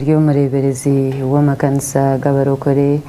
Ndi omureeberezi w'amakanisa g'abarokore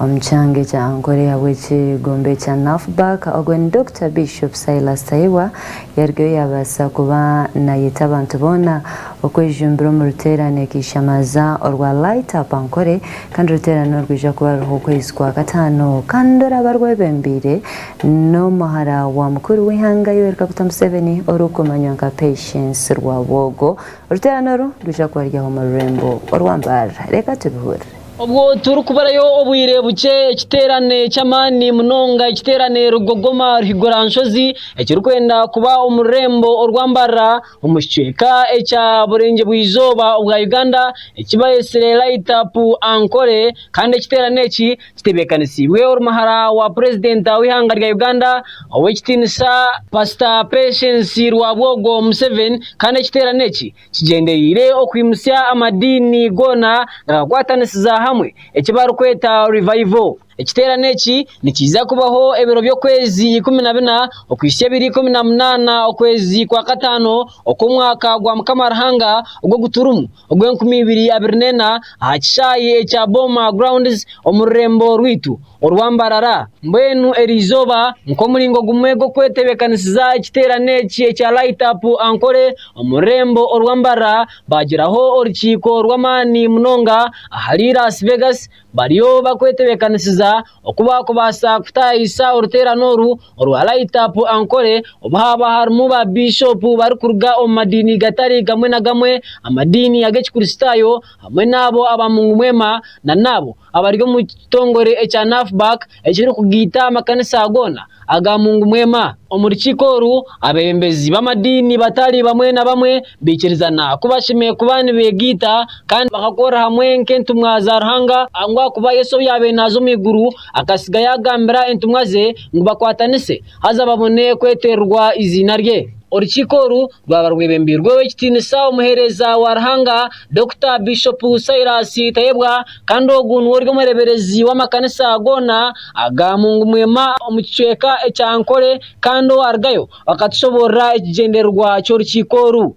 omu kyanga ekya Ankole ahabw'ekigombe ekya Nafbak. Ogwo ni Dokita Bishop Silas Tairwa. Yarugayo yaabaasa kuba naayeta abantu boona okwejumbira omu ruteerane akaishamaza orwa Light Up Ankole kandi oruteerane orwo rwija kuba ruriho okwezi kwa kataano kandi oraba rwebembeire n'omuhara wa mukuru w'eihanga Yoweri Kaguta Museveni orikumanywa nka Patience Rwabwogo. Oruteerane oru rwija kuba ruri omu rurembo orw'ambarara. Reeka tubihurire. Obwo turikuburayo obwire bukye, ekiteerane ky'amaani munonga, ekiteerane rugogoma ruhigura nshozi, ekirikwenda kuba omu rurembo orw'ambarara omu kicweka ekya burengyebwa-izooba obwa Uganda, ekibaitsire Light Up Ankole, kandi ekiteerane eki, kitebeekanisiibwe oruhara wa purezidenta w'eihanga rya Uganda ow'ekitiinisa Pasita Patience Rwabwogo Museveni kandi ekiteerane eki kigyendereire okwimutsya amadiini goona gakakwatanisiza hamwe eki barikweta Revival. Ekiteerane eki nikiija kubaho ebiro by'okwezi ikumi na bina okuhitsya ebiro ikumi na munaana okwezi kwa kataano okw'omwaka gwa Mukama Ruhanga ogu turimu. ogw'enkumi ibiri abiri n'ena aha kishaayi ekya Boma Grounds omu rurembo rwaitu orwa Mbarara. Mbwenu eri izooba nk'omuringo gumwe gw'okwetebeekanisiza ekiteerane eki ekya Light Up Ankole omu rurembo orwa Mbarara, baagiraho orukiiko rw'amaani munonga ahari Las Vegas Bariyo bakwetebekanisiza oku baakubaasa kutaayisa oruteerane oru orwa Light Up Ankole obu haaba harimu ba biishopu barikuruga omu madiini gatari gamwe na gamwe, amadiini ag'Ekikristaayo hamwe n'abo aba Mungumwema nana abo abari omu kitongore ekya NAFBAC. ekirikugaita amakanisa goona aga mungu mwema. Omu rukiiko oru, abeebembezi b'amadiini batari bamwe na bamwe baikirizana ku bashemereire kuba nibeegaita kandi bakakorera hamwe nk'entumwa za Ruhanga, ngu ahakuba Yesu obu yaabaire naaza omu iguru akasiga yaagambira entumwa ze ngu bakwatanise haza babone kwetererwa eiziina rye. Orukiiko oru rwaba rwebembeirwe Ow'ekitiinisa Omuheereza wa Ruhanga, Dokita Biishopu Silas Tayebwa Kandi ogu niwe ori omureberezi w'amakanisa goona aga Mungu Mwema omu kicweka ekya Ankole kandi owarugayo akatushoboorora ekigyendererwa ky'orukiiko oru.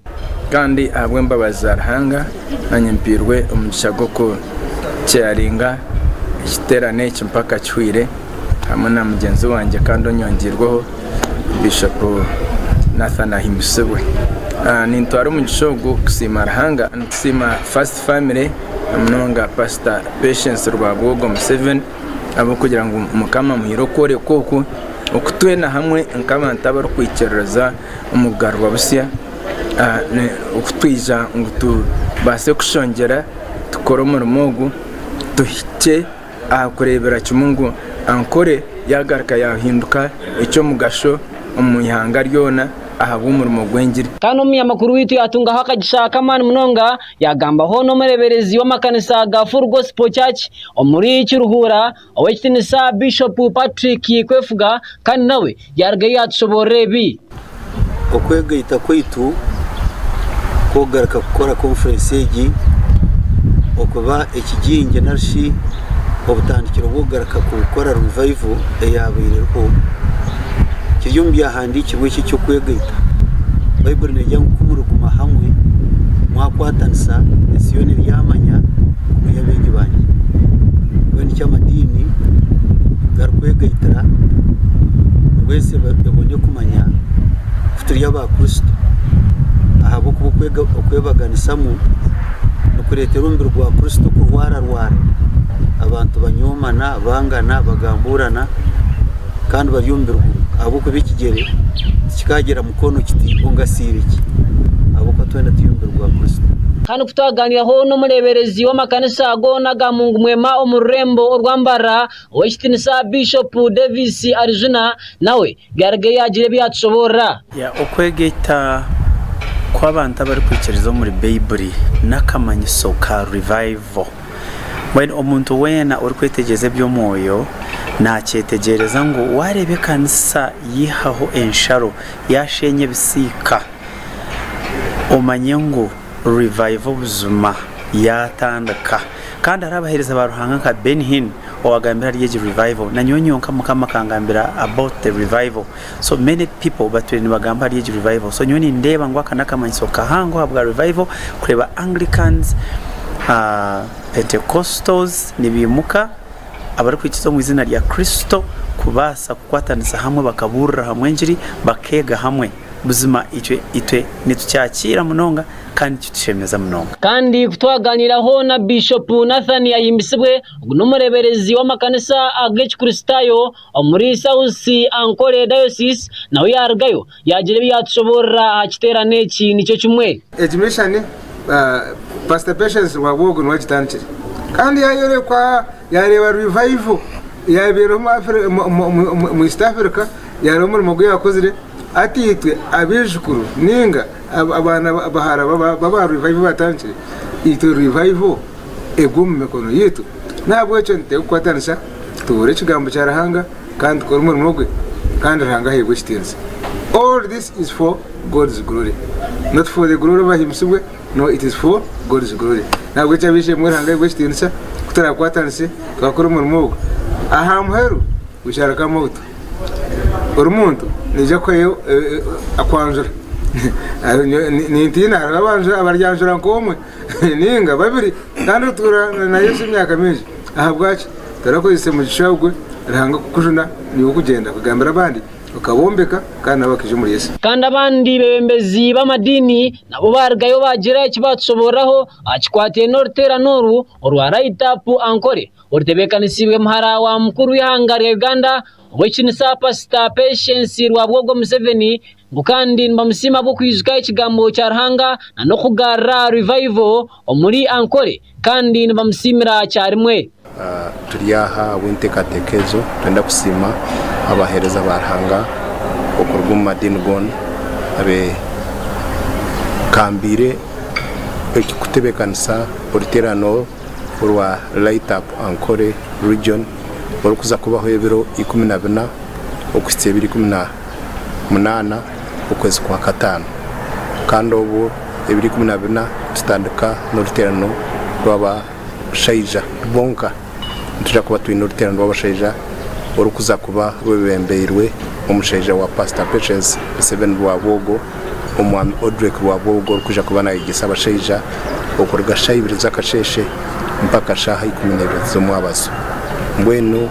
Kandi ahabw'embabazi za Ruhanga naanye mpairwe omugisha gw'okuceyaringa ekiterane eki mpaka kihweire hamwe na mugyenzi wangye kandi onyongyeirweho Bishop Nathan Ahimbisibwe. Nintwara omugisha ogu kusiima Ruhanga, nitusiima First Family, na munonga pastor Patience Rwabwogo Museveni ahabw'okugira ngu Mukama amuhaire okworeka okwo oku twena hamwe nk'abantu abarikwikiririza omu kugarurwa busya oku twija ngu tubaase kushongyera tukore omurimo ogu tuhikye aha kureebera kimwe ngu Ankore yaagaruka yaahinduka eky'omugasho omu ihanga ryona ahabw'omurimo gw'engiri. Kandi Omunyamakuru waitu yaatungaho akagisha k'amaani munonga Yagambaho n'omureberezi w'amakanisa ga Full Gospel Church omuri Kiruhura, Ow'ekitinisa Bishop Patrick Kwefuga kandi nawe yarugayo yatushoborora ebi. Okwegaita kwaitu kwokugaruka kukora conference egi okuba ekigingye nari shi? obutandikiro bw'okugaruka kukora revival eyabaire eriho. Kiri omu byahandiikirwe eki eky'okwegaita. Baiburi negira ngu kumuriguma hamwe mwakwatanisa ensi yoona eryamanya ngu muri abeegi banye. Mbwenu nikyo amadiini garikwegaitira ngu ensi ebone kumanya. Turi aba Kristo ahabw'okuba okwega okwebaganisamu nikureetera omubiri gwa Kristo kurwararwara. Abantu banyoomana, bangana, bagambuurana kandi bari omu mubiri gumwe ahabw'okuba ekigyere tikikaagira mukono kiti ongasiire ki ahabw'okuba twena turi omubiri gwa Kristo. Kandi ku twagaaniiraho n'omureeberezi w'amakanisa goona aga mungu mwema omu rurembo orwa Mbarara, Ow'ekitinisa Biishopu Davis Arijuna nawe byarugire yaagira ebi yaatushoboorora. Okwegaita kw'abantu abarikwikiriza omuri Baibuli n'akamanyiso ka Revival. Mbwenu omuntu weena orikwetegyereza eby'omwoyo naakyetegyereza ngu waareeba ekanisa yaihaho ensharo, yaasheenya ebisiika, omanye ngu Revival buzima yatandika kandi hariho abahereza ba Ruhanga nka Ben Hinn owagambire ahari egi Revival na nyowe nyonka Mukama akangambira about the Revival so many people batwire nibagamba ahari egi Revival so nyowe nindeeba ngu aka nakamanyiso kahango ahabwa Revival kureeba Anglicans, uh, Pentecostals nibimuka abarikwikiza omu izina rya Kristo kubaasa kukwatanisa hamwe bakaburira hamwe engiri bakega hamwe. Buzima itwe itwe nitukyakiira munonga kandi nikitushemeza munonga. Kandi ku twaganiraho na Bishopu Nathan Ahimbisibwe, ogu n'omureberezi w'amakanisa ag'ekikristayo omuri South Ankole Diocese, nawe yarugayo yagira ebi yatushoborora aha kiterane eki nikyo kimwe. Egi mishani Pastor Patience Rwabwogo niwe agitandikire kandi yayorekwa. Yaareeba Revival eyaabaire eriho omu East Africa, yaareeba omurimo ogu yaakozire. Hati itwe abaijukuru nainga abaana bahara b'aba Revival baatandikire, itwe Revival egwe omu mikono yaitu. N'ahabw'ekyo nituteekakwatanisa tubuure ekigambo kya Ruhanga kandi tukore omurimo gwe kandi Ruhanga aheebwe ekitiinisa. All this is for God's glory not for the glory of Himsibwe. No, it is for God's glory. Nahabweki ab'eishe-emwe muhe Ruhanga yaigwe ekitiinisa, ku turaakwatanise twakora omurimo ogwo. Aha muheru we shall come out ori muntu, naija kuhayo akwanjura. Nintiina hariho abaryanjura nk'omwe nainga babiri kandi otuura na Yesu emyaka mingi. Ahabwaki torakozesa omugisha ogwo Ruhanga kukujuna naiwe okugyenda kugambira abandi, okabombeka kandi nabo bakaija omuri Yesu? Kandi abandi beebembezi b'amadiini Nabo baarugayo baagira eki baatushoboororeraho aha kikwataine n'oruteerane oru orwa Ride Up Ankole orutebeekanisiibwe muhara wa mukuru w'eihanga rya Uganda, Ow'ekitinisa Paasita Patience Rwabwogo Museveni ngu kandi nibamusiima ahabw'okwijuka ekigambo kya Ruhanga na n'okugarura Revival omuri Ankole. kandi nibamusiimira kyarimwe. Turi aha ahabw'enteekateeka egyo. Nitwenda kusiima abaheereza ba Ruhanga okuruga omu madiini goona abeekambiire kutebeekanisa oruteerane oru orwa Light Up Ankole Region orikuza kubaho ebiro ikumi na bina okuhitsya ebiro ikumi na munaana okwezi kwa kataano kandi obwo ebiri ikumi na bina nitutandika n'oruteerano rw'abashaija bonka nituja kuba twine oruteerano rw'abashaija orikuza kuba rwebembeirwe omushaija wa pastor Patience Museveni Rwabwogo omwami Odrick Rwabwogo orikuja kuba nayegyesa abashaija okuruga shaaha ibiri z'akasheeshe mpaka shaaha ikumi na ibiri z'omwabazo mbwenu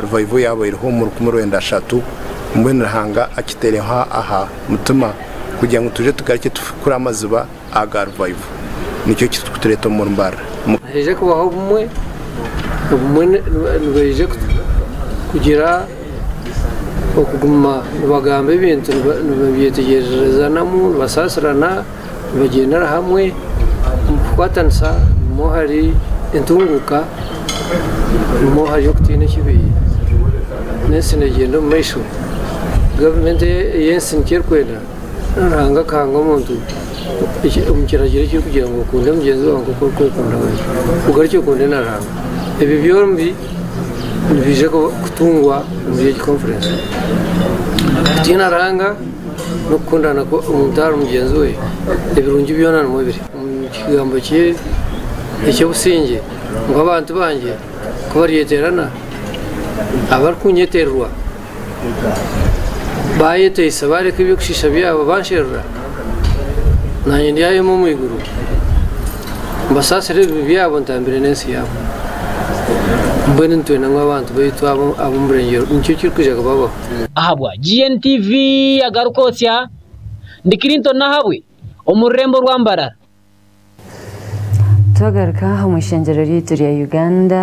Revival yabaireho omu rukumi rwenda ashatu, mbwenu Ruhanga akitereho aha mutima kugira ngu tuje tugarukye tufukure amaziba aga Revival. Nikyo kirikutureeta omuri Mbarara. Nihaija kubaho obumwe, obumwe nibaija kugira okuguma nibagamba ebintu, nibeetegyerezanamu, nibasaasirana. Nibagyendera hamwe omu kukwatanisa nimwo ahari entunguuka, nimwo ahari okutiina ekibi. N'ensi neegyenda omu maisho. Gavumenti ey'ensi nikyo erikwenda, reero Ruhanga akahanga omuntu omu kiragiro ekirikugira ngu okunde mugyenzi waawe nk'oku orikwekunda wena. Ogarukye okunde na Ruhanga. Ebyo byombi nibiija kutungwa omuri egi konfurensi. Kutiina Ruhanga. n'okukundana kw'omuntu ahari mugyenzi we ebirungi byona nimwo biri. Omu kigambo kye eky'obusingye, ngu abantu bangye ku baryeteerana, abarikunyetererwa, baayeteisa, baareka eby'okushiisha byabo, bansherura, naanye ndyayoma omu iguru, mbasaasire ebibi byabo, ntambire n'ensi yaabo. Mbwenu nitwenda ngu abantu baitu ab'omu burengyeerwa nikyo kirikwija kubabaho. Ahabwa GNTV Agarukotsya, ndi Clinton Nahabwe omu rurembo rwa Mbarara. Twagaruka omu ishengyero ryaitu rya Uganda,